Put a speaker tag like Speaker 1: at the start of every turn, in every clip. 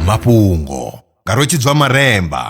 Speaker 1: mafhungo nga rwetshidzwa maremba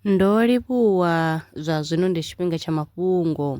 Speaker 1: ndo livhuwa zwa zwino ndi tshifhinga tsha mafhungo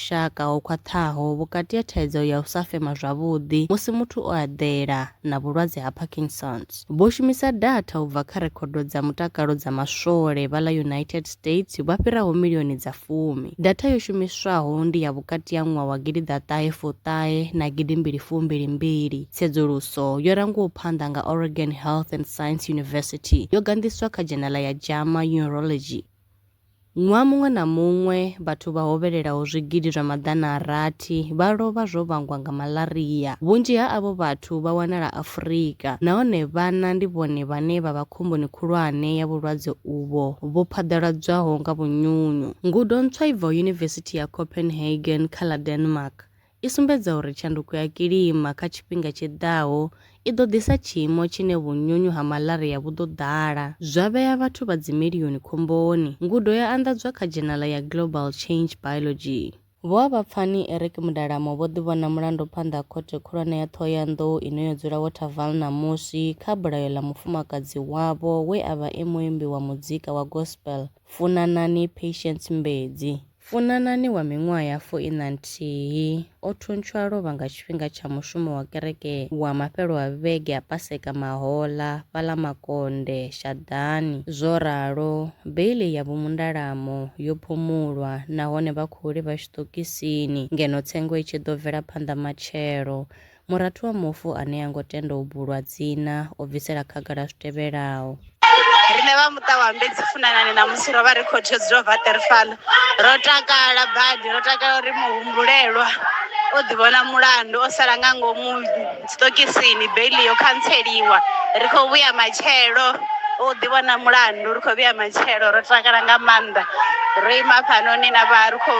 Speaker 1: vhushaka ho khwaṱhaho vhukati ha thaidzo ya u sa fema zwavhuḓi musi muthu o eḓela na vhulwadze ha Parkinson's. Vho shumisa datha u bva kha rekhodo dza mutakalo dza maswole vha ḽa United States vha fhiraho milioni dza fumi. Datha yo shumiswaho ndi ya vhukati ha ṅwaha wa gidi ḓa ṱahe fu ṱahe na gidi mbili fu mbili mbili. Tsedzuluso yo rangwaho phanḓa nga Oregon Health and Science University yo ganḓiswa kha dzhenala ya JAMA Neurology. Ṅwaha muṅwe na muṅwe, vhathu vha hovhelelaho zwigidi zwa maḓana a rathi vha lovha zwo vhangwa nga malaria. Vhunzhi ha avho vhathu vha wanala Afurika, nahone vhana ndi vhone vhane vha vha khomboni khulwane ya vhulwadze uvho vhu phaḓaladzwaho nga vhunyunyu. Ngudo ntswa i bvaho Yunivesithi ya Copenhagen kha ḽa Denmark i sumbedza uri tshanduko ya kilima kha tshifhinga tshi ḓaho i ḓo ḓisa tshiimo tshine vhunyunyu ha malaria vhu ḓo ḓala, zwa vhea vhathu vha dzimilioni khomboni, ngudo ya anḓadzwa kha dzhenala ya Global Change Biology. Vhoavhapfani Eric Mudalamo vho ḓivhona mulando phanḓa ha Khothe Khulwane ya Ṱhohoyanḓou ine yo dzula Waterval ṋamusi kha bulayo ḽa mufumakadzi wavho we a vha e muimbi wa mudzika wa gospel, Funanani Patience Mbedzi. Funanani wa miṅwaha ya fu ina nthihi o thuntswa a lovha nga tshifhinga tsha mushumo wa kereke wa mafhelo a vhege a Paseka Mahola fhaḽa Makonde, Shaḓani. Zwo ralo, beiḽi ya vhumundalamo yo phumulwa nahone vha khou livha tshiṱokisini ngeno tsengo i tshi ḓo bvela phanḓa matshelo. Murathu wa mufu ane a ngo tenda u bulwa dzina o bvisela khagala zwi tevhelaho. Riṋe vha muṱa wa Mbedzi Funanani ṋamusi ro vha ri khothe yo dzula Waterfall. Ro takala badi, ro takala uri muhumbulelwa o ḓivhona mulandu o sala nga ngomu tshiṱokisini, beiḽi yo khantseliwa. Ri khou vhuya matshelo, o ḓivhona mulandu ri khou vhuya matshelo ro takala nga maanḓa. Ro ima hafhanoni na vha ri khou.